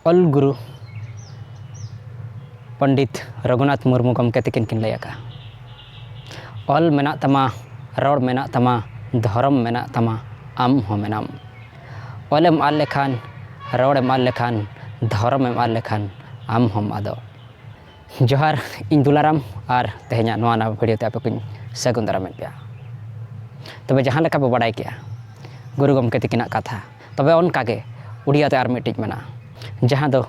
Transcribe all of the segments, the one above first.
ᱚᱞ ᱜᱩᱨᱩ ᱯᱚᱱᱰᱤᱛ ᱨᱚᱜᱷᱩᱱᱟᱛᱷ ᱢᱩᱨᱢᱩ ᱜᱚᱢᱠᱮ ᱛᱟᱹᱠᱤᱱ ᱠᱤᱱ ᱞᱟᱹᱭ ᱟᱠᱟᱫᱼᱟ ᱚᱞ ᱢᱮᱱᱟᱜ ᱛᱟᱢᱟ ᱨᱚᱲ ᱢᱮᱱᱟᱜ ᱛᱟᱢᱟ ᱫᱷᱚᱨᱚᱢ ᱢᱮᱱᱟᱜ ᱛᱟᱢᱟ ᱟᱢ ᱦᱚᱸ ᱢᱮᱱᱟᱢ ᱚᱞᱮᱢ ᱟᱫ ᱞᱮᱠᱷᱟᱱ ᱨᱚᱲᱮᱢ ᱟᱫ ᱞᱮᱠᱷᱟᱱ ᱫᱷᱚᱨᱚᱢᱮᱢ ᱟᱫ ᱞᱮᱠᱷᱟᱱ ᱟᱢ ᱦᱚᱸᱢ ᱟᱫᱚᱜ ᱡᱚᱦᱟᱨ ᱤᱧ ᱫᱩᱞᱟᱨᱟᱢ ᱟᱨ ᱛᱮᱦᱮᱧᱟᱜ ᱱᱚᱣᱟ ᱱᱟᱣᱟ ᱵᱷᱤᱰᱤᱭᱳ ᱛᱮ ᱟᱯᱮ ᱠᱚᱧ ᱥᱟᱹᱜᱩᱱ ᱫᱟᱨᱟᱢᱮᱫ ᱯᱮᱭᱟ ᱛᱚᱵᱮ ᱡᱟᱦᱟᱸ ᱞᱮᱠᱟ ᱵᱚ ᱵᱟᱰᱟᱭ ᱠᱮᱜᱼᱟ ᱜᱩᱨᱩ ᱜᱚᱢᱠᱮ ᱛᱤᱠᱤᱱᱟᱜ ᱠᱟᱛᱷᱟ ᱛᱚᱵᱮ ᱚᱱᱠᱟ ᱜᱮ ᱩᱲᱤᱭᱟ ᱛᱮ ᱟᱨ ᱢᱤᱫᱴᱤᱡ ᱢᱮᱱᱟᱜᱼᱟ ᱡᱟᱦᱟᱸ ᱫᱚ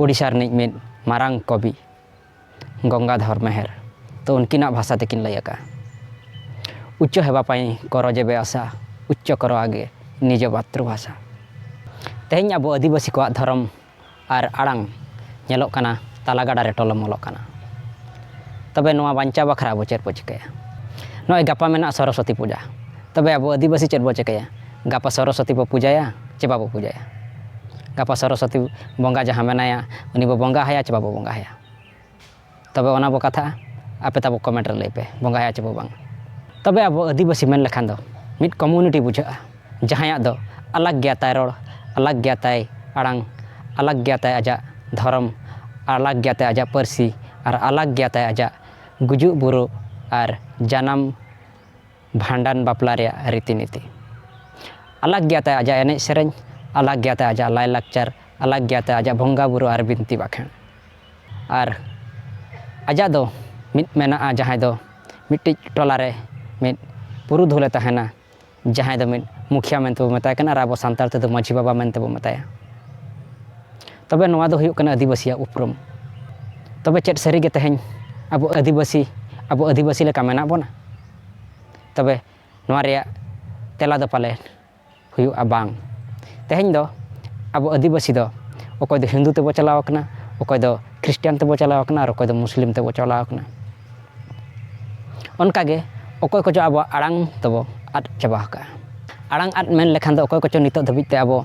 ᱩᱲᱤᱥᱥᱟ ᱨᱤᱱᱤᱡ ᱢᱤᱫ ᱢᱟᱨᱟᱝ ᱠᱚᱵᱤ ᱜᱚᱝᱜᱟᱫᱷᱚᱨ ᱢᱮᱦᱮᱨ ᱛᱚ ᱩᱱᱠᱤᱱᱟᱜ ᱵᱷᱟᱥᱟ ᱛᱮᱠᱤᱱ ᱞᱟᱹᱭ ᱟᱠᱟᱜᱼᱟ ᱩᱪᱪ ᱦᱮᱵᱟ ᱯᱟᱭ ᱠᱚᱨᱚ ᱡᱮᱵᱮ ᱟᱥᱟ ᱩᱪᱪ ᱠᱚᱨᱚ ᱟᱜᱮ ᱱᱤᱡᱚ ᱢᱟᱛᱨᱩᱵᱷᱟᱥᱟ ᱛᱮᱦᱮᱧ ᱟᱵᱚ ᱟᱹᱫᱤᱵᱟᱹᱥᱤ ᱠᱚᱣᱟᱜ ᱫᱷᱚᱨᱚᱢ ᱟᱨ ᱟᱲᱟᱝ ᱧᱮᱞᱚᱜ ᱠᱟᱱᱟ ᱛᱟᱞᱟ ᱜᱟᱰᱟ ᱨᱮ ᱴᱚᱞᱚᱢ ᱚᱞᱚᱜ ᱠᱟᱱᱟ ᱛᱚᱵᱮ ᱱᱚᱣᱟ ᱵᱟᱧᱪᱟᱣ ᱵᱟᱠᱷᱨᱟ ᱟᱵᱚ ᱪᱮᱫ ᱵᱚ ᱪᱤᱠᱟᱹᱭᱟ ᱱᱚᱜᱼᱚᱭ ᱜᱟᱯᱟ ᱢᱮᱱᱟᱜᱼᱟ ᱥᱚᱨᱚᱥᱚᱛᱤ ᱯᱩᱡᱟ ᱛᱚᱵᱮ ᱟᱵᱚ ᱟᱹᱫᱤᱵᱟᱹᱥᱤ ᱪᱮᱫ ᱵᱚ ᱪᱤᱠᱟᱹᱭᱟ ᱜᱟᱯᱟ ᱥᱚᱨᱚᱥᱚᱛᱤ ᱵᱚ ᱯᱩᱡᱟᱹᱭᱟ ᱪᱮ ᱵᱟᱵᱚ ᱯᱩᱡᱟᱹᱭᱟ ᱜᱟᱯᱟ ᱥᱚᱨᱚᱥᱚᱛᱤ ᱵᱚᱸᱜᱟ ᱡᱟᱦᱟᱸ ᱢᱮᱱᱟᱭᱟ ᱩᱱᱤ ᱵᱚ ᱵᱚᱸᱜᱟ ᱟᱭᱟ ᱪᱮ ᱵᱟᱵᱚ ᱵᱚᱸᱜᱟ ᱟᱭᱟ ᱛᱚᱵᱮ ᱚᱱᱟ ᱵᱚ ᱠᱟᱛᱷᱟᱜᱼᱟ ᱟᱯᱮ ᱛᱟᱵᱚ ᱠᱚᱢᱮᱱᱴ ᱨᱮ ᱞᱟᱹᱭ ᱯᱮ ᱵᱚᱸᱜᱟᱭᱟ ᱪᱮ ᱵᱚ ᱵᱟᱝ ᱛᱚᱵᱮ ᱟᱵᱚ ᱟᱹᱫᱤᱵᱟᱹᱥᱤ ᱢᱮᱱ ᱞᱮᱠᱷᱟᱱ ᱫᱚ ᱢᱤᱫ ᱠᱚᱢᱤᱭᱩᱱᱤᱴᱤ ᱵᱩᱡᱷᱟᱹᱜᱼᱟ ᱡᱟᱦᱟᱸᱭᱟᱜ ᱫᱚ ᱟᱞᱟᱠ ᱜᱮᱭᱟ ᱛᱟᱭ ᱨᱚᱲ ᱟᱞᱟᱠ ᱜᱮᱭᱟ ᱛᱟᱭ ᱟᱲᱟᱝ ᱟᱞᱟᱠ ᱜᱮᱭᱟ ᱛᱟᱭ ᱟᱡᱟᱜ ᱫᱷᱚᱨᱚᱢ ᱟᱞᱟᱠ ᱜᱮᱭᱟ ᱛᱟᱭ ᱟᱡᱟᱜ ᱯᱟᱹᱨᱥᱤ ᱟᱨ ᱟᱞᱟᱠ ᱜᱮᱭᱟ ᱛᱟᱭ ᱟᱡᱟᱜ ᱜᱩᱡᱩᱜ ᱵᱩᱨᱩᱜ ᱟᱨ ᱡᱟᱱᱟᱢ ᱵᱷᱟᱸᱰᱟᱱ ᱵᱟᱯᱞᱟ ᱨᱮᱭᱟᱜ ᱨᱤᱛᱤ ᱱᱤᱛᱤ ᱟᱞᱟᱠ ᱜᱮᱭᱟ ᱛᱟᱭ ᱟᱡᱟᱜ ᱮᱱᱮᱡ ᱥᱮᱨᱮᱧ ᱟᱞᱟᱠ ᱜᱮᱭᱟ ᱛᱟᱭ ᱟᱡᱟᱜ ᱞᱟᱭᱼᱞᱟᱠᱪᱟᱨ ᱟᱞᱟᱠ ᱜᱮᱭᱟ ᱛᱟᱭ ᱟᱡᱟᱜ ᱵᱚᱸᱜᱟᱼᱵᱩᱨᱩ ᱟᱨ ᱵᱤᱱᱛᱤ ᱵᱟᱠᱷᱮᱬ ᱟᱨ ᱟᱡᱟᱜ ᱫᱚ ᱢᱤᱫ ᱢᱮᱱᱟᱜᱼᱟ ᱡᱟᱦᱟᱸᱭ ᱫᱚ ᱢᱤᱫᱴᱤᱡ ᱴᱚᱞᱟ ᱨᱮ ᱢᱤᱫ ᱯᱩᱨᱩᱫᱷᱩᱞᱮ ᱛᱟᱦᱮᱱᱟ ᱡᱟᱦᱟᱸᱭ ᱫᱚ ᱢᱤᱫ ᱢᱩᱠᱷᱤᱭᱟᱹ ᱢᱮᱱᱛᱮ ᱵᱚᱱ ᱢᱮᱛᱟᱭ ᱠᱟᱱᱟ ᱟᱨ ᱟᱵᱚ ᱥᱟᱱᱛᱟᱲ ᱛᱮᱫᱚ ᱢᱟᱹᱡᱷᱤ ᱵᱟᱵᱟ ᱢᱮᱱᱛᱮ ᱵᱚᱱ ᱢᱮᱛᱟᱭᱟ ᱛᱚᱵᱮ ᱱᱚᱣᱟ ᱫᱚ ᱦᱩᱭᱩᱜ ᱠᱟᱱᱟ ᱟᱹᱫᱤᱵᱟᱹᱥᱤᱭᱟᱜ ᱩᱯᱨᱩᱢ ᱛᱚᱵᱮ ᱪᱮᱫ ᱥᱟᱹᱨᱤᱜᱮ ᱛᱮᱦᱮᱧ ᱟᱵᱚ ᱟᱹᱫᱤᱵᱟᱹᱥᱤ ᱟᱵᱚ ᱟᱹᱫᱤᱵᱟᱹᱥᱤ ᱞᱮᱠᱟ ᱢᱮᱱᱟᱜ ᱵᱚᱱᱟ ᱛᱚᱵᱮ ᱱᱚᱣᱟ ᱨᱮᱭᱟᱜ ᱛᱮᱞᱟ ᱫᱚ ᱯᱟᱞᱮ ᱦᱩᱭᱩᱜᱼᱟ ᱵᱟᱝ ᱛᱮᱦᱮᱧ ᱫᱚ ᱟᱵᱚ ᱟᱹᱫᱤᱵᱟᱹᱥᱤ ᱫᱚ ᱚᱠᱚᱭ ᱫᱚ ᱦᱤᱱᱫᱩ ᱛᱮᱵᱚ ᱪᱟᱞᱟᱣ ᱠᱟᱱᱟ ᱚᱠᱚᱭ ᱫᱚ ᱠᱷᱨᱤᱥᱴᱟᱱ ᱛᱮᱵᱚ ᱪᱟᱞᱟᱣ ᱠᱟᱱᱟ ᱟᱨ ᱚᱠᱚᱭ ᱫᱚ ᱢᱩᱥᱞᱤᱢ ᱛᱮᱵᱚ ᱪᱟᱞᱟᱣ ᱠᱟᱱᱟ ᱚᱱᱠᱟᱜᱮ ᱚᱠᱚᱭ ᱠᱚᱪᱚ ᱟᱵᱚᱣᱟᱜ ᱟᱲᱟᱝ ᱫᱚᱵᱚ ᱟᱫ ᱪᱟᱵᱟ ᱟᱠᱟᱫᱼᱟ ᱟᱲᱟᱝ ᱟᱫ ᱢᱮᱱ ᱞᱮᱠᱷᱟᱱ ᱫᱚ ᱚᱠᱚᱭ ᱠᱚᱪᱚ ᱱᱤᱛᱚᱜ ᱫᱷᱟᱹᱵᱤᱡ ᱛᱮ ᱟᱵᱚ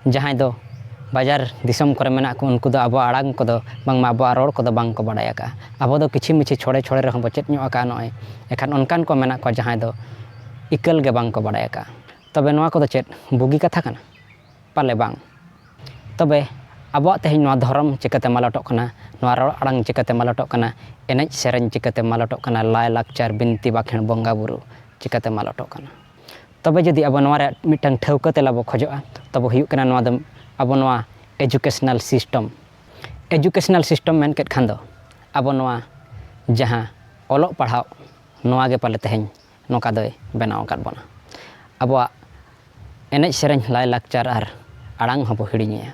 ᱡᱟᱦᱟᱸᱭ ᱫᱚ ᱵᱟᱡᱟᱨ ᱫᱤᱥᱚᱢ ᱠᱚᱨᱮ ᱢᱮᱱᱟᱜ ᱠᱚ ᱩᱱᱠᱩ ᱫᱚ ᱟᱵᱚᱣᱟᱜ ᱟᱲᱟᱝ ᱠᱚᱫᱚ ᱵᱟᱝᱢᱟ ᱟᱵᱚᱣᱟᱜ ᱨᱚᱲ ᱠᱚᱫᱚ ᱵᱟᱝ ᱠᱚ ᱵᱟᱲᱟᱭ ᱟᱠᱟᱫᱼᱟ ᱟᱵᱚ ᱫᱚ ᱠᱤᱪᱷᱤ ᱢᱤᱪᱷᱤ ᱪᱷᱚᱲᱮ ᱪᱷᱚᱲᱮ ᱨᱮᱦᱚᱸ ᱵᱚ ᱪᱮᱫ ᱧᱚᱜ ᱟᱠᱟᱫᱼᱟ ᱱᱚᱜᱼᱚᱸᱭ ᱮᱱᱠᱷᱟᱱ ᱚᱱᱠᱟᱱ ᱠᱚ ᱢᱮᱱᱟᱜ ᱠᱚᱣᱟ ᱡᱟᱦᱟᱸᱭ ᱫᱚ ᱤᱠᱟᱹᱞ ᱜᱮ ᱵᱟᱝ ᱠᱚ ᱵᱟᱲᱟᱭ ᱟᱠᱟᱫᱼᱟ ᱛᱚᱵᱮ ᱱᱚᱣᱟ ᱠᱚᱫᱚ ᱪᱮᱫ ᱵᱩᱜᱤ ᱠᱟᱛᱷᱟ ᱠᱟᱱᱟ ᱯᱟᱞᱮ ᱵᱟᱝ ᱛᱚᱵᱮ ᱟᱵᱚᱣᱟᱜ ᱛᱮᱦᱮᱧ ᱱᱚᱣᱟ ᱫᱷᱚᱨᱚᱢ ᱪᱤᱠᱟᱹᱛᱮ ᱢᱟᱞᱚᱴᱚᱜ ᱠᱟᱱᱟ ᱱᱚᱣᱟ ᱨᱚᱲ ᱟᱲᱟᱝ ᱪᱤᱠᱟᱹᱛᱮ ᱢᱟᱞᱚᱴᱚᱜ ᱠᱟᱱᱟ ᱮᱱᱮᱡ ᱥᱮᱨᱮᱧ ᱪᱤᱠᱟᱹᱛᱮ ᱢᱟᱞᱚᱴᱚᱜ ᱠᱟᱱᱟ ᱞᱟᱭᱼᱞᱟᱠᱪᱟᱨ ᱵᱤᱱᱛᱤ ᱵᱟᱠᱷᱮᱬ ᱵᱚᱸᱜᱟᱼᱵᱩᱨᱩ ᱪᱤᱠᱟᱹᱛᱮ ᱢᱟᱞᱚᱴᱚᱜ ᱠᱟᱱᱟ ᱛᱚᱵᱮ ᱡᱩᱫᱤ ᱟᱵᱚ ᱱᱚᱣᱟ ᱨᱮᱭᱟᱜ ᱢᱤᱫᱴᱟᱝ ᱴᱷᱟᱹᱣᱠᱟᱹ ᱛᱮᱞᱟ ᱵᱚ ᱠᱷᱚᱡᱚᱜᱼᱟ ᱛᱚᱵᱮ ᱦᱩᱭᱩᱜ ᱠᱟᱱᱟ ᱱᱚᱣᱟ ᱫᱚ ᱟᱵᱚ ᱱᱚᱣᱟ ᱮᱰᱩᱠᱮᱥᱚᱱᱟᱞ ᱥᱤᱥᱴᱮᱢ ᱮᱰᱩᱠᱮᱥᱚᱱᱟᱞ ᱥᱤᱥᱴᱮᱢ ᱢᱮᱱ ᱠᱮᱫ ᱠᱷᱟᱱ ᱫᱚ ᱟᱵᱚ ᱱᱚᱣᱟ ᱡᱟᱦᱟᱸ ᱚᱞᱚᱜ ᱯᱟᱲᱦᱟᱣ ᱱᱚᱣᱟ ᱜᱮ ᱯᱟᱞᱮ ᱛᱮᱦᱮᱧ ᱱᱚᱝᱠᱟ ᱫᱚᱭ ᱵᱮᱱᱟᱣ ᱟᱠᱟᱫ ᱵᱚᱱᱟ ᱟᱵᱚᱣᱟᱜ ᱮᱱᱮᱡ ᱥᱮᱨᱮᱧ ᱞᱟᱭᱼᱞᱟᱠᱪᱟᱨ ᱟᱨ ᱟᱲᱟᱝ ᱦᱚᱸᱵᱚ ᱦᱤᱲᱤᱧᱮᱜᱼᱟ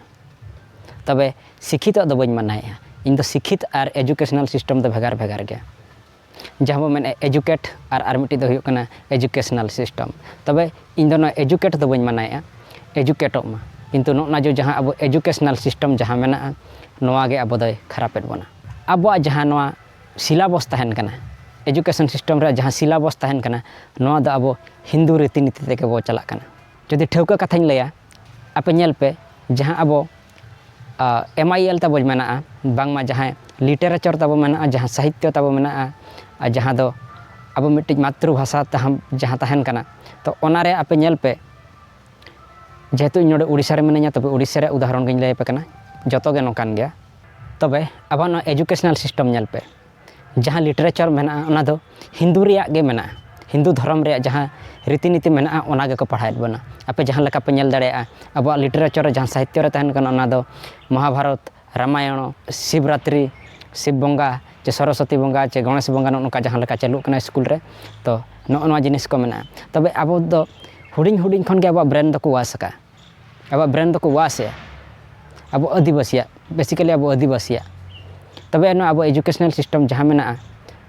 ᱛᱚᱵᱮ ᱥᱤᱠᱠᱷᱤᱛᱚ ᱫᱚ ᱵᱟᱹᱧ ᱢᱟᱱᱟᱭᱮᱜᱼᱟ ᱤᱧᱫᱚ ᱥᱤᱠᱠᱷᱤᱛ ᱟᱨ ᱮᱰᱩᱠᱮᱥᱚᱱᱟᱞ ᱥᱤᱥᱴᱮᱢ ᱫᱚ ᱵᱷᱮᱜᱟᱨ ᱵᱷᱮᱜᱟᱨ ᱜᱮᱭᱟ ᱡᱟᱦᱟᱸ ᱵᱚᱱ ᱢᱮᱱᱮᱫ ᱮᱰᱩᱠᱮᱴ ᱟᱨ ᱟᱨ ᱢᱤᱫᱴᱤᱡ ᱫᱚ ᱦᱩᱭᱩᱜ ᱠᱟᱱᱟ ᱮᱰᱩᱠᱮᱥᱚᱱᱟᱞ ᱥᱤᱥᱴᱮᱢ ᱛᱚᱵᱮ ᱤᱧᱫᱚ ᱱᱚᱣᱟ ᱮᱰᱩᱠᱮᱴ ᱫᱚ ᱵᱟᱹᱧ ᱢᱟᱱᱟᱭᱮᱫᱼᱟ ᱮᱰᱩᱠᱮᱴᱚᱜ ᱢᱟ ᱠᱤᱱᱛᱩ ᱱᱚᱜᱼᱚᱸᱭ ᱱᱟ ᱡᱮ ᱡᱟᱦᱟᱸ ᱟᱵᱚ ᱮᱰᱩᱠᱮᱥᱚᱱᱟᱞ ᱥᱤᱥᱴᱮᱢ ᱡᱟᱦᱟᱸ ᱢᱮᱱᱟᱜᱼᱟ ᱱᱚᱣᱟᱜᱮ ᱟᱵᱚ ᱫᱚᱭ ᱠᱷᱟᱨᱟᱯᱮᱫ ᱵᱚᱱᱟ ᱟᱵᱚᱣᱟᱜ ᱡᱟᱦᱟᱸ ᱱᱚᱣᱟ ᱥᱤᱞᱟᱵᱚᱥ ᱛᱟᱦᱮᱱ ᱠᱟᱱᱟ ᱮᱰᱩᱠᱮᱥᱚᱱ ᱥᱤᱥᱴᱮᱢ ᱨᱮ ᱡᱟᱦᱟᱸ ᱥᱤᱞᱟᱵᱚᱥ ᱛᱟᱦᱮᱱ ᱠᱟᱱᱟ ᱱᱚᱣᱟ ᱫᱚ ᱟᱵᱚ ᱦᱤᱱᱫᱩ ᱨᱤᱛᱤ ᱱᱤᱛᱤ ᱛᱮᱜᱮ ᱵᱚᱱ ᱪᱟᱞᱟᱜ ᱠᱟᱱᱟ ᱡᱩᱫᱤ ᱴᱷᱟᱹᱣᱠᱟᱹ ᱠᱟᱛᱷᱟᱧ ᱞᱟᱹᱭᱟ ᱟᱯᱮ ᱧᱮᱞ ᱯᱮ ᱡᱟᱦᱟᱸ ᱟᱵᱚ ᱮᱢ ᱟᱭ ᱮᱞ ᱛᱟᱵᱚ ᱢᱮᱱᱟᱜᱼᱟ ᱵᱟᱝᱢᱟ ᱡᱟᱦᱟᱸᱭ ᱞᱤᱴᱟᱨᱮᱪᱚᱨ ᱛᱟᱵᱚ ᱢᱮᱱᱟᱜᱼᱟ ᱡᱟᱦᱟᱸ ᱥᱟᱦᱤᱛᱛᱚ ᱛᱟᱵᱚ ᱢᱮᱱᱟᱜᱼᱟ ᱟᱨ ᱡᱟᱦᱟᱸ ᱫᱚ ᱟᱵᱚ ᱢᱤᱫᱴᱤᱡ ᱢᱟᱛᱨᱤ ᱵᱷᱟᱥᱟ ᱛᱟᱦᱮᱱ ᱡᱟᱦᱟᱸ ᱛᱟᱦᱮᱱ ᱠᱟᱱᱟ ᱛᱚ ᱚᱱᱟ ᱨᱮ ᱟᱯᱮ ᱧᱮᱞ ᱯᱮ ᱡᱮᱦᱮᱛᱩ ᱤᱧ ᱱᱚᱰᱮ ᱳᱰᱤᱥᱟ ᱨᱮ ᱢᱤᱱᱟᱹᱧᱟ ᱛᱚᱵᱮ ᱳᱰᱤᱥᱟ ᱨᱮᱭᱟᱜ ᱩᱫᱟᱦᱚᱨᱚᱱ ᱜᱤᱧ ᱞᱟᱹᱭ ᱟᱯᱮ ᱠᱟᱱᱟ ᱡᱚᱛᱚ ᱜᱮ ᱱᱚᱝᱠᱟᱱ ᱜᱮᱭᱟ ᱛᱚᱵᱮ ᱟᱵᱚᱣᱟᱜ ᱱᱚᱣᱟ ᱮᱰᱩᱠᱮᱥᱚᱱᱟᱞ ᱥᱤᱥᱴᱮᱢ ᱧᱮᱞ ᱯᱮ ᱡᱟᱦᱟᱸ ᱞᱤᱴᱟᱨᱮᱪᱟᱨ ᱢᱮᱱᱟᱜᱼᱟ ᱚᱱᱟ ᱫᱚ ᱦᱤᱱᱫᱩ ᱨᱮᱭᱟᱜ ᱜᱮ ᱢᱮᱱᱟᱜᱼᱟ ᱦᱤᱱᱫᱩ ᱫᱷᱚᱨᱚᱢ ᱨᱮᱭᱟᱜ ᱡᱟᱦᱟᱸ ᱨᱤᱛᱤ ᱱᱤᱛᱤ ᱢᱮᱱᱟᱜᱼᱟ ᱚᱱᱟ ᱜᱮᱠᱚ ᱯᱟᱲᱦᱟᱣᱮᱫ ᱵᱚᱱᱟ ᱟᱯᱮ ᱡᱟᱦᱟᱸ ᱞᱮᱠᱟ ᱯᱮ ᱧᱮᱞ ᱫᱟᱲᱮᱭᱟᱜᱼᱟ ᱟᱵᱚᱣᱟᱜ ᱞᱤᱴᱟᱨᱮᱪᱟᱨ ᱨᱮ ᱡᱟᱦᱟᱸ ᱥᱟᱦᱤᱛᱛᱚ ᱨᱮ ᱛᱟᱦᱮᱱ ᱠᱟᱱᱟ ᱚᱱᱟ ᱫᱚ ᱢᱚᱦᱟᱵᱷᱟᱨᱚᱛ ᱨᱟᱢᱟᱭᱚᱱ ᱥᱤᱵᱽᱨᱟᱛᱨᱤ ᱥᱤᱵᱽ ᱵᱚᱸᱜᱟ ᱥᱮ ᱥᱚᱨᱚᱥᱚᱛᱤ ᱵᱚᱸᱜᱟ ᱥᱮ ᱜᱚᱱᱮᱥ ᱵᱚᱸᱜᱟ ᱱᱚᱜᱼᱚ ᱱᱚᱝᱠᱟ ᱡᱟᱦᱟᱸ ᱞᱮᱠᱟ ᱪᱟᱹᱞᱩᱜ ᱠᱟᱱᱟ ᱥᱠᱩᱞ ᱨᱮ ᱛᱚ ᱱᱚᱜᱼᱚ ᱱᱚᱣᱟ ᱡᱤᱱᱤᱥ ᱠᱚ ᱢᱮᱱᱟᱜᱼᱟ ᱛᱚᱵᱮ ᱟᱵᱚ ᱫᱚ ᱦᱩᱰᱤᱧ ᱦᱩᱰᱤᱧ ᱠᱷᱚᱱᱜᱮ ᱟᱵᱚᱣᱟᱜ ᱵᱨᱮᱱ ᱫᱚᱠᱚ ᱚᱣᱟᱥ ᱟᱠᱟᱫᱼᱟ ᱟᱵᱚᱣᱟᱜ ᱵᱨᱮᱱ ᱫᱚᱠᱚ ᱣᱟᱥ ᱮᱫᱟ ᱟᱵᱚ ᱟᱹᱫᱤᱵᱟᱹᱥᱤᱭᱟᱜ ᱵᱮᱥᱤᱠᱮᱞᱤ ᱟᱵᱚ ᱟᱹᱫᱤᱵᱟᱹᱥᱤᱭᱟᱜ ᱛᱚᱵᱮ ᱟᱱᱟᱜ ᱟᱵᱚ ᱮᱰᱩᱠᱮᱥᱚᱱᱟᱞ ᱥᱤᱥᱴᱮᱢ ᱡᱟᱦᱟᱸ ᱢᱮᱱᱟᱜᱼᱟ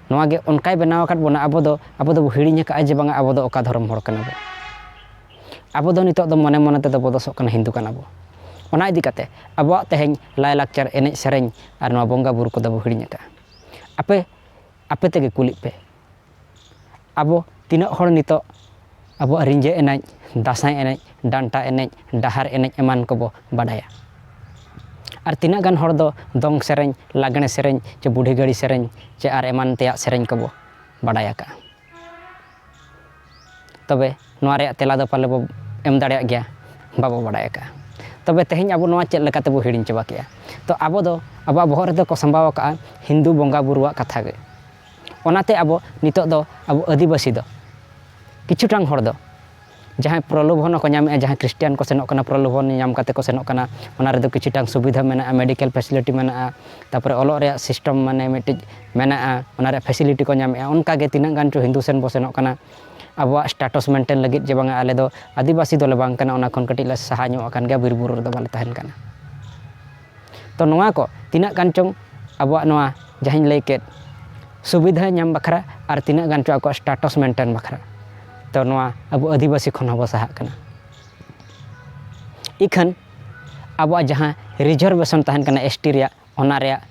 ᱱᱚᱣᱟ ᱜᱮ ᱚᱱᱠᱟᱭ ᱵᱮᱱᱟᱣ ᱟᱠᱟᱫ ᱵᱚᱱᱟ ᱟᱵᱚ ᱫᱚ ᱟᱵᱚ ᱫᱚᱵᱚ ᱦᱤᱲᱤᱧ ᱟᱠᱟᱫᱼᱟ ᱡᱮ ᱵᱟᱝᱟ ᱟᱵᱚ ᱫᱚ ᱚᱠᱟ ᱫᱷᱚᱨᱚᱢ ᱦᱚᱲ ᱠᱟᱱᱟ ᱵᱚᱱ ᱟᱵᱚ ᱫᱚ ᱱᱤᱛᱚᱜ ᱫᱚ ᱢᱚᱱᱮ ᱢᱚᱱᱮ ᱛᱮᱫᱚ ᱵᱚ ᱫᱚᱥᱚᱜ ᱠᱟᱱᱟ ᱦᱤᱱᱫᱩ ᱠᱟᱱᱟ ᱵᱚᱱ ᱚᱱᱟ ᱤᱫᱤ ᱠᱟᱛᱮᱫ ᱟᱵᱚᱣᱟᱜ ᱛᱮᱦᱮᱧ ᱞᱟᱭᱼᱞᱟᱠᱪᱟᱨ ᱮᱱᱮᱡ ᱥᱮᱨᱮᱧ ᱟᱨ ᱱᱚᱣᱟ ᱵᱚᱸᱜᱟᱼᱵᱩᱨᱩ ᱠᱚᱫᱚ ᱵᱚ ᱦᱤᱲᱤᱧ ᱟᱠᱟᱫᱼᱟ ᱟᱯᱮ ᱟᱯᱮ ᱛᱮᱜᱮ ᱠᱩᱞᱤᱜ ᱯᱮ ᱟᱵᱚ ᱛᱤᱱᱟᱹᱜ ᱦᱚᱲ ᱱᱤᱛᱚᱜ ᱟᱵᱚᱣᱟᱜ ᱨᱤᱸᱡᱷᱟᱹ ᱮᱱᱮᱡ ᱫᱟᱸᱥᱟᱭ ᱮᱱᱮᱡ ᱰᱟᱱᱴᱟ ᱮᱱᱮᱡ ᱰᱟᱦᱟᱨ ᱮᱱᱮᱡ ᱮᱢᱟᱱ ᱠᱚᱵᱚ ᱵᱟᱰᱟᱭᱟ ᱟᱨ ᱛᱤᱱᱟᱹᱜ ᱜᱟᱱ ᱦᱚᱲ ᱫᱚ ᱫᱚᱝ ᱥᱮᱨᱮᱧ ᱞᱟᱜᱽᱬᱮ ᱥᱮᱨᱮᱧ ᱪᱮ ᱵᱩᱰᱷᱤ ᱜᱟᱹᱲᱤ ᱥᱮᱨᱮᱧ ᱪᱮ ᱟᱨ ᱮᱢᱟᱱ ᱛᱮᱭᱟᱜ ᱥᱮᱨᱮᱧ ᱠᱚᱵᱚ ᱵᱟᱰᱟᱭ ᱟᱠᱟᱫᱼᱟ ᱛᱚᱵᱮ ᱱᱚᱣᱟ ᱨᱮᱭᱟᱜ ᱛᱮᱞᱟ ᱫᱚ ᱯᱟᱞᱮ ᱵᱚ ᱮᱢ ᱫᱟᱲᱮᱭᱟᱜ ᱜᱮᱭᱟ ᱵᱟᱵᱚ ᱵᱟᱰᱟᱭ ᱟᱠᱟᱫᱼᱟ ᱛᱚᱵᱮ ᱛᱮᱦᱮᱧ ᱟᱵᱚ ᱱᱚᱣᱟ ᱪᱮᱫ ᱞᱮᱠᱟ ᱛᱮᱵᱚ ᱦᱤᱲᱤᱧ ᱪᱟᱵᱟ ᱠᱮᱫᱼᱟ ᱛᱚ ᱟᱵᱚ ᱫᱚ ᱟᱵᱚᱣᱟᱜ ᱵᱚᱦᱚᱜ ᱨᱮᱫᱚ ᱠᱚ ᱥᱟᱢᱵᱟᱣ ᱟᱠᱟᱫᱼᱟ ᱦᱤᱱᱫᱩ ᱵᱚᱸᱜᱟᱼᱵᱩᱨᱩᱣᱟᱜ ᱠᱟᱛᱷᱟ ᱜᱮ ᱚᱱᱟᱛᱮ ᱟᱵᱚ ᱱᱤᱛᱚᱜ ᱫᱚ ᱟᱵᱚ ᱟᱹᱫᱤᱵᱟᱹᱥᱤ ᱫᱚ ᱠᱤᱪᱷᱩᱴᱟᱝ ᱦᱚᱲ ᱫᱚ ᱡᱟᱦᱟᱸᱭ ᱯᱨᱚᱞᱳᱵᱷᱚᱱ ᱦᱚᱸᱠᱚ ᱧᱟᱢᱮᱜᱼᱟ ᱡᱟᱦᱟᱸᱭ ᱠᱷᱨᱤᱥᱴᱟᱱ ᱠᱚ ᱥᱮᱱᱚᱜ ᱠᱟᱱᱟ ᱯᱨᱚᱞᱳᱵᱷᱚᱱ ᱧᱟᱢ ᱠᱟᱛᱮᱫ ᱠᱚ ᱥᱮᱱᱚᱜ ᱠᱟᱱᱟ ᱚᱱᱟ ᱨᱮᱫᱚ ᱠᱤᱪᱷᱩᱴᱟᱝ ᱥᱩᱵᱤᱫᱷᱟ ᱢᱮᱱᱟᱜᱼᱟ ᱢᱮᱰᱤᱠᱮᱞ ᱯᱷᱮᱥᱤᱞᱤᱴᱤ ᱢᱮᱱᱟᱜᱼᱟ ᱛᱟᱨᱯᱚᱨᱮ ᱚᱞᱚᱜ ᱨᱮᱭᱟᱜ ᱥᱤᱥᱴᱮᱢ ᱢᱟᱱᱮ ᱢᱤᱫᱴᱤᱡ ᱢᱮᱱᱟᱜᱼᱟ ᱚᱱᱟ ᱨᱮᱭᱟᱜ ᱯᱷᱮᱥᱤᱞᱤᱴᱤ ᱠᱚ ᱧᱟᱢᱮᱜᱼᱟ ᱚᱱᱠᱟ ᱜᱮ ᱛᱤᱱᱟᱹᱜ ᱜᱟᱱ ᱪᱚ ᱦᱤᱱᱫᱩ ᱥᱮᱱ ᱵᱚᱱ ᱥᱮᱱᱚᱜ ᱠᱟᱱᱟ ᱟᱵᱚᱣᱟᱜ ᱥᱴᱮᱴᱟᱥ ᱢᱮᱱᱴᱮᱱ ᱞᱟᱹᱜᱤᱫ ᱡᱮ ᱵᱟᱝᱟ ᱟᱞᱮ ᱫᱚ ᱟᱹᱫᱤᱵᱟᱹᱥᱤ ᱫᱚᱞᱮ ᱵᱟᱝ ᱠᱟᱱᱟ ᱚᱱᱟ ᱠᱷᱚᱱ ᱠᱟᱹᱴᱤᱡ ᱞᱮ ᱥᱟᱦᱟ ᱧᱚᱜ ᱟᱠᱟᱱ ᱜᱮᱭᱟ ᱵᱤᱨᱼᱵᱩᱨᱩ ᱨᱮᱫᱚ ᱵᱟᱞᱮ ᱛᱟᱦᱮᱱ ᱠᱟᱱᱟ ᱛᱚ ᱱᱚᱣᱟ ᱠᱚ ᱛᱤᱱᱟᱹᱜ ᱜᱟᱱ ᱪᱚᱝ ᱟᱵᱚᱣᱟᱜ ᱱᱚᱣᱟ ᱡᱟᱦᱟᱸᱧ ᱞᱟᱹᱭ ᱠᱮᱫ ᱥᱩᱵᱤᱫᱷᱟ ᱧᱟᱢ ᱵᱟᱠᱷᱨᱟ ᱟᱨ ᱛᱤᱱᱟᱹᱜ ᱜᱟᱱ ᱪᱚᱝ ᱟᱠᱚᱣᱟᱜ ᱥᱴᱟᱴᱚᱥ ᱢᱮᱱᱴᱮᱱ ᱵᱟᱠᱷᱨᱟ ᱛᱚ ᱱᱚᱣᱟ ᱟᱵᱚ ᱟᱹᱫᱤᱵᱟᱹᱥᱤ ᱠᱷᱚᱱ ᱦᱚᱸᱵᱚ ᱥᱟᱦᱟᱜ ᱠᱟᱱᱟ ᱤᱠᱷᱟᱹᱱ ᱟᱵᱚᱣᱟᱜ ᱡᱟᱦᱟᱸ ᱨᱤᱡᱟᱨᱵᱷᱮᱥᱚᱱ ᱛᱟᱦᱮᱱ ᱠᱟᱱᱟ ᱮᱥ ᱴᱤ ᱨᱮᱭᱟᱜ ᱚᱱᱟ ᱨᱮᱭᱟᱜ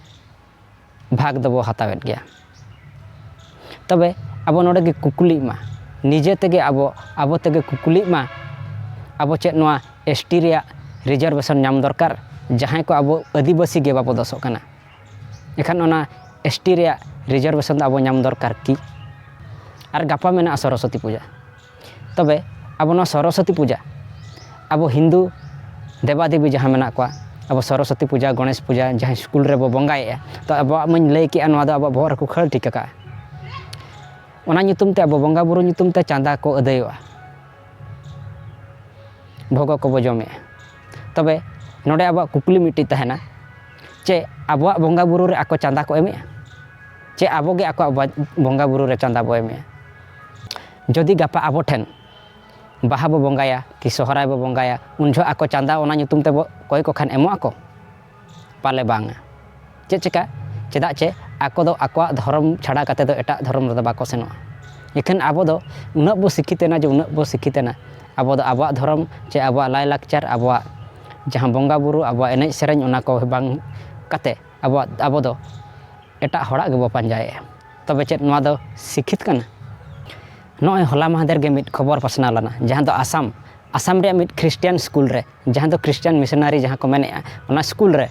ᱵᱷᱟᱜᱽ ᱫᱚᱵᱚ ᱦᱟᱛᱟᱣᱮᱫ ᱜᱮᱭᱟ ᱛᱚᱵᱮ ᱟᱵᱚ ᱱᱚᱰᱮ ᱜᱮ ᱠᱩᱠᱞᱤᱜ ᱢᱟ ᱱᱤᱡᱮ ᱛᱮᱜᱮ ᱟᱵᱚ ᱟᱵᱚ ᱛᱮᱜᱮ ᱠᱩᱠᱞᱤᱜ ᱢᱟ ᱟᱵᱚ ᱪᱮᱫ ᱱᱚᱣᱟ ᱮᱥ ᱴᱤ ᱨᱮᱭᱟᱜ ᱨᱤᱡᱟᱨᱵᱷᱮᱥᱚᱱ ᱧᱟᱢ ᱫᱚᱨᱠᱟᱨ ᱡᱟᱦᱟᱸᱭ ᱠᱚ ᱟᱵᱚ ᱟᱹᱫᱤᱵᱟᱹᱥᱤ ᱜᱮ ᱵᱟᱵᱚ ᱫᱚᱥᱚᱜ ᱠᱟᱱᱟ ᱮᱱᱠᱷᱟᱱ ᱚᱱᱟ ᱮᱥ ᱴᱤ ᱨᱮᱭᱟᱜ ᱨᱤᱡᱟᱨᱵᱷᱮᱥᱚᱱ ᱫᱚ ᱟᱵᱚ ᱧᱟᱢ ᱫᱚᱨᱠᱟᱨ ᱠᱤ ᱟᱨ ᱜᱟᱯᱟ ᱢᱮᱱᱟᱜᱼᱟ ᱥᱚᱨᱚᱥᱚᱛᱤ ᱯᱩᱡᱟᱹ ᱛᱚᱵᱮ ᱟᱵᱚ ᱱᱚᱣᱟ ᱥᱚᱨᱚᱥᱚᱛᱤ ᱯᱩᱡᱟ ᱟᱵᱚ ᱦᱤᱱᱫᱩ ᱫᱮᱵᱟ ᱫᱮᱵᱤ ᱡᱟᱦᱟᱸ ᱢᱮᱱᱟᱜ ᱠᱚᱣᱟ ᱟᱵᱚ ᱥᱚᱨᱚᱥᱚᱛᱤ ᱯᱩᱡᱟ ᱜᱚᱱᱮᱥ ᱯᱩᱡᱟ ᱡᱟᱦᱟᱸ ᱥᱠᱩᱞ ᱨᱮᱵᱚ ᱵᱚᱸᱜᱟᱭᱮᱜᱼᱟ ᱛᱚ ᱟᱵᱚᱣᱟᱜ ᱢᱟᱹᱧ ᱞᱟᱹᱭ ᱠᱮᱜᱼᱟ ᱱᱚᱣᱟ ᱫᱚ ᱟᱵᱚᱣᱟᱜ ᱵᱚᱦᱚᱜ ᱨᱮᱠᱚ ᱠᱷᱟᱹᱲ ᱴᱷᱤᱠ ᱠᱟᱜᱼᱟ ᱚᱱᱟ ᱧᱩᱛᱩᱢ ᱛᱮ ᱟᱵᱚ ᱵᱚᱸᱜᱟ ᱵᱩᱨᱩ ᱧᱩᱛᱩᱢ ᱛᱮ ᱪᱟᱸᱫᱟ ᱠᱚ ᱟᱹᱫᱟᱹᱭᱚᱜᱼᱟ ᱵᱷᱚᱜᱚ ᱠᱚᱵᱚ ᱡᱚᱢᱮᱜᱼᱟ ᱛᱚᱵᱮ ᱱᱚᱰᱮ ᱟᱵᱚᱣᱟᱜ ᱠᱩᱠᱞᱤ ᱢᱤᱫᱴᱤᱡ ᱛᱟᱦᱮᱱᱟ ᱪᱮ ᱟᱵᱚᱣᱟᱜ ᱵᱚᱸᱜᱟ ᱵᱩᱨᱩ ᱨᱮ ᱟᱠᱚ ᱪᱟᱸᱫᱟ ᱠᱚ ᱮᱢᱮᱜᱼᱟ ᱪᱮ ᱟᱵᱚᱜᱮ ᱟᱠᱚᱣᱟᱜ ᱵᱚᱸᱜᱟ ᱵᱩᱨᱩ ᱨᱮ ᱪᱟᱸᱫᱟ ᱵᱚ ᱮᱢᱮᱜᱼᱟ ᱡᱚᱫᱤ ᱜᱟᱯᱟ ᱟᱵᱚ ᱴᱷᱮᱱ ᱵᱟᱦᱟ ᱵᱚ ᱵᱚᱸᱜᱟᱭᱟ ᱠᱤ ᱥᱚᱦᱨᱟᱭ ᱵᱚ ᱵᱚᱸᱜᱟᱭᱟ ᱩᱱ ᱡᱚᱦᱚᱜ ᱟᱠᱚ ᱪᱟᱸᱫᱟ ᱚᱱᱟ ᱧᱩᱛᱩᱢ ᱛᱮᱵᱚ ᱠᱚᱭ ᱠᱚ ᱠᱷᱟᱱ ᱮᱢᱚᱜ ᱟᱠᱚ ᱯᱟᱞᱮ ᱵᱟᱝᱟ ᱪᱮᱫ ᱪᱤᱠᱟᱹ ᱪᱮᱫᱟᱜ ᱪᱮ ᱟᱠᱚ ᱫᱚ ᱟᱠᱚᱣᱟᱜ ᱫᱷᱚᱨᱚᱢ ᱪᱷᱟᱰᱟ ᱠᱟᱛᱮ ᱫᱚ ᱮᱴᱟᱜ ᱫᱷᱚᱨᱚᱢ ᱨᱮᱫᱚ ᱵᱟᱠᱚ ᱥᱮᱱᱚᱜᱼᱟ ᱤᱠᱷᱟᱹᱱ ᱟᱵᱚ ᱫᱚ ᱩᱱᱟᱹᱜ ᱵᱚ ᱥᱤᱠᱠᱷᱤᱛ ᱮᱱᱟ ᱡᱮ ᱩᱱᱟᱹᱜ ᱵᱚ ᱥᱤᱠᱠᱷᱤᱛ ᱮᱱᱟ ᱟᱵᱚ ᱫᱚ ᱟᱵᱚᱣᱟᱜ ᱫᱷᱚᱨᱚᱢ ᱪᱮ ᱟᱵᱚᱣᱟᱜ ᱞᱟᱭ ᱞᱟᱠᱪᱟᱨ ᱟᱵᱚᱣᱟᱜ ᱡᱟᱦᱟᱸ ᱵᱚᱸᱜᱟ ᱵᱳᱨᱳ ᱟᱵᱚᱣᱟᱜ ᱮᱱᱮᱡ ᱥᱮᱨᱮᱧ ᱚᱱᱟ ᱠᱚ ᱵᱟᱝ ᱠᱟᱛᱮ ᱟᱵᱚᱣᱟᱜ ᱟᱵᱚ ᱫᱚ ᱮᱴᱟᱜ ᱦᱚᱲᱟᱜ ᱜᱮᱵᱚ ᱯᱟᱸᱡᱟᱭᱮᱜᱼᱟ ᱛᱚᱵᱮ ᱪᱮᱫ ᱱᱚᱣᱟ ᱫᱚ ᱥᱤᱠᱠᱷᱤᱛ ᱠᱟᱱᱟ? ᱱᱚᱜᱼᱚᱭ ᱦᱚᱞᱟ ᱢᱟᱦᱫᱮᱨ ᱜᱮ ᱢᱤᱫ ᱠᱷᱚᱵᱚᱨ ᱯᱟᱥᱱᱟᱣ ᱞᱮᱱᱟ ᱡᱟᱦᱟᱸ ᱫᱚ ᱟᱥᱟᱢ ᱟᱥᱟᱢ ᱨᱮᱭᱟᱜ ᱢᱤᱫ ᱠᱷᱨᱤᱥᱴᱤᱭᱟᱱ ᱥᱠᱩᱞ ᱨᱮ ᱡᱟᱦᱟᱸ ᱫᱚ ᱠᱷᱨᱤᱥᱴᱤᱭᱟᱱ ᱢᱤᱥᱚᱱᱟᱨᱤ ᱡᱟᱦᱟᱸ ᱠᱚ ᱢᱮᱱᱮᱫᱼᱟ ᱚᱱᱟ ᱥᱠᱩᱞ ᱨᱮ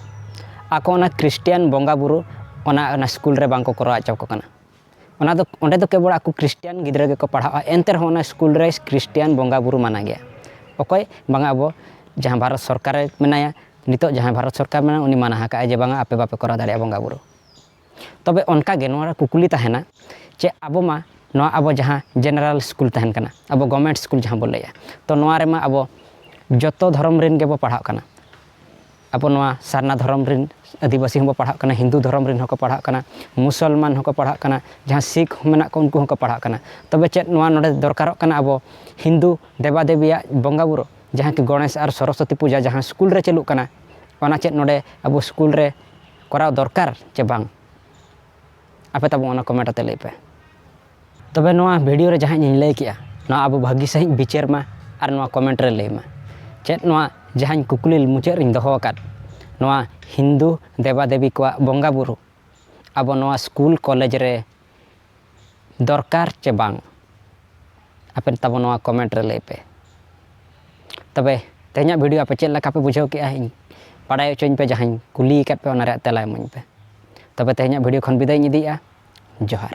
ᱟᱠᱚ ᱚᱱᱟ ᱠᱷᱨᱤᱥᱴᱤᱭᱟᱱ ᱵᱚᱸᱜᱟ ᱵᱩᱨᱩ ᱚᱱᱟ ᱚᱱᱟ ᱥᱠᱩᱞ ᱨᱮ ᱵᱟᱝ ᱠᱚ ᱠᱚᱨᱟᱣ ᱦᱚᱪᱚ ᱟᱠᱚ ᱠᱟᱱᱟ ᱚᱱᱟ ᱫᱚ ᱚᱸᱰᱮ ᱫᱚ ᱠᱮᱵᱚᱞ ᱟᱠᱚ ᱠᱷᱨᱤᱥᱴᱤᱭᱟᱱ ᱜᱤᱫᱽᱨᱟᱹ ᱜᱮᱠᱚ ᱯᱟᱲᱦᱟᱜᱼᱟ ᱮᱱᱛᱮ ᱨᱮᱦᱚᱸ ᱚᱱᱟ ᱥᱠᱩᱞ ᱨᱮ ᱠᱷᱨᱤᱥᱴᱤᱭᱟᱱ ᱵᱚᱸᱜᱟ ᱵᱩᱨᱩ ᱢᱟᱱᱟ ᱜᱮᱭᱟ ᱚᱠᱚᱭ ᱵᱟᱝᱟ ᱟᱵᱚ ᱡᱟᱦᱟᱸ ᱵᱷᱟᱨᱚᱛ ᱥᱚᱨᱠᱟᱨᱮ ᱢᱮᱱᱟᱭᱟ ᱱᱤᱛᱚᱜ ᱡᱟᱦᱟᱸᱭ ᱵᱷᱟᱨᱚᱛ ᱥᱚᱨᱠᱟᱨ ᱢᱮᱱᱟᱭᱟ ᱩᱱᱤ ᱢᱟᱱᱟ ᱟᱠᱟᱫᱼᱟᱭ ᱡᱮ ᱵᱟᱝᱟ ᱟᱯᱮ ᱵᱟᱯᱮ ᱠᱚᱨᱟᱣ ᱫᱟᱲᱮᱭᱟᱜᱼᱟ ᱵᱚᱸᱜᱟ ᱵᱩᱨᱩ ᱛᱚᱵᱮ ᱚᱱᱠᱟ ᱜᱮ ᱱᱚᱣᱟ ᱨᱮ ᱠᱩᱠᱞᱤ ᱛᱟᱦᱮᱱᱟ ᱪᱮ ᱟᱵᱚ ᱢᱟ ᱱᱚᱣᱟ ᱟᱵᱚ ᱡᱟᱦᱟᱸ ᱡᱮᱱᱟᱨᱮᱞ ᱥᱠᱩᱞ ᱛᱟᱦᱮᱱ ᱠᱟᱱᱟ ᱟᱵᱚ ᱜᱚᱵᱷᱚᱨᱱᱢᱮᱱᱴ ᱥᱠᱩᱞ ᱡᱟᱦᱟᱸ ᱵᱚᱱ ᱞᱟᱹᱭᱟ ᱛᱚ ᱱᱚᱣᱟ ᱨᱮᱢᱟ ᱟᱵᱚ ᱡᱚᱛᱚ ᱫᱷᱚᱨᱚᱢ ᱨᱮᱱ ᱜᱮᱵᱚ ᱯᱟᱲᱦᱟᱜ ᱠᱟᱱᱟ ᱟᱵᱚ ᱱᱚᱣᱟ ᱥᱟᱨᱱᱟ ᱫᱷᱚᱨᱚᱢ ᱨᱮᱱ ᱟᱹᱫᱤᱵᱟᱹᱥᱤ ᱦᱚᱸᱵᱚ ᱯᱟᱲᱦᱟᱜ ᱠᱟᱱᱟ ᱦᱤᱱᱫᱩ ᱫᱷᱚᱨᱚᱢ ᱨᱮᱱ ᱦᱚᱸᱠᱚ ᱯᱟᱲᱦᱟᱜ ᱠᱟᱱᱟ ᱢᱩᱥᱚᱞᱢᱟᱱ ᱦᱚᱸᱠᱚ ᱯᱟᱲᱦᱟᱜ ᱠᱟᱱᱟ ᱡᱟᱦᱟᱸ ᱥᱤᱠᱷ ᱢᱮᱱᱟᱜ ᱠᱚᱣᱟ ᱩᱱᱠᱩ ᱦᱚᱸᱠᱚ ᱯᱟᱲᱦᱟᱜ ᱠᱟᱱᱟ ᱛᱚᱵᱮ ᱪᱮᱫ ᱱᱚᱣᱟ ᱱᱚᱰᱮ ᱫᱚᱨᱠᱟᱨᱚᱜ ᱠᱟᱱᱟ ᱟᱵᱚ ᱦᱤᱱᱫᱩ ᱫᱮᱵᱟ ᱫᱮᱵᱤᱭᱟᱜ ᱵᱚᱸᱜᱟ ᱵᱩᱨᱩ ᱡᱟᱦᱟᱸ ᱠᱤ ᱜᱚᱱᱮᱥ ᱟᱨ ᱥᱚᱨᱚᱥᱚᱛᱤ ᱯᱩᱡᱟᱹ ᱡᱟᱦᱟᱸ ᱥᱠᱩᱞ ᱨᱮ ᱪᱟᱹᱞᱩᱜ ᱠᱟᱱᱟ ᱚᱱᱟ ᱪᱮᱫ ᱱᱚᱰᱮ ᱟᱵᱚ ᱥᱠᱩᱞ ᱨᱮ ᱠᱚᱨᱟᱣ ᱫᱚᱨᱠᱟᱨ ᱪᱮ ᱵᱟᱝ ᱟᱯᱮ ᱛᱟᱵᱚ ᱚᱱᱟ ᱠᱚᱢᱮᱱᱴ ᱟᱛᱮ ᱞᱟᱹᱭ ᱯᱮ ᱛᱚᱵᱮ ᱱᱚᱣᱟ ᱵᱷᱤᱰᱤᱭᱳ ᱨᱮ ᱡᱟᱦᱟᱸ ᱤᱧ ᱞᱟᱹᱭ ᱠᱮᱜᱼᱟ ᱱᱚᱣᱟ ᱟᱵᱚ ᱵᱷᱟᱹᱜᱤ ᱥᱟᱺᱦᱤᱡ ᱵᱤᱪᱟᱹᱨ ᱢᱟ ᱟᱨ ᱱᱚᱣᱟ ᱠᱚᱢᱮᱱᱴ ᱨᱮ ᱞᱟᱹᱭ ᱢᱟ ᱪᱮᱫ ᱱᱚᱣᱟ ᱡᱟᱦᱟᱸᱧ ᱠᱩᱠᱞᱤ ᱢᱩᱪᱟᱹᱫ ᱨᱤᱧ ᱫᱚᱦᱚ ᱟᱠᱟᱫ ᱱᱚᱣᱟ ᱦᱤᱱᱫᱩ ᱫᱮᱵᱟ ᱫᱮᱵᱤ ᱠᱚᱣᱟᱜ ᱵᱚᱸᱜᱟᱼᱵᱩᱨᱩ ᱟᱵᱚ ᱱᱚᱣᱟ ᱥᱠᱩᱞ ᱠᱚᱞᱮᱡᱽ ᱨᱮ ᱫᱚᱨᱠᱟᱨ ᱪᱮ ᱵᱟᱝ ᱟᱯᱮ ᱛᱟᱵᱚ ᱱᱚᱣᱟ ᱠᱚᱢᱮᱱᱴ ᱨᱮ ᱞᱟᱹᱭ ᱯᱮ ᱛᱚᱵᱮ ᱛᱮᱦᱮᱧᱟᱜ ᱵᱷᱤᱰᱤᱭᱳ ᱟᱯᱮ ᱪᱮᱫ ᱞᱮᱠᱟ ᱯᱮ ᱵᱩᱡᱷᱟᱹᱣ ᱠᱮᱜᱼᱟ ᱤᱧ ᱵᱟᱰᱟᱭ ᱦᱚᱪᱚᱧ ᱯᱮ ᱡᱟᱦᱟᱸᱧ ᱠᱩᱞᱤ ᱟᱠᱟᱫ ᱯᱮ ᱚᱱᱟ ᱨᱮᱭᱟᱜ ᱛᱮᱞᱟ ᱮᱢᱟᱹᱧ ᱯᱮ ᱛᱚᱵᱮ ᱛᱮᱦᱮᱧᱟᱜ ᱵᱷᱤᱰᱤᱭᱳ ᱠᱷᱚᱱ ᱵᱤᱫᱟᱹᱭ ᱤᱧ ᱤᱫᱤᱭᱮᱜᱼᱟ ᱡᱚᱦᱟᱨ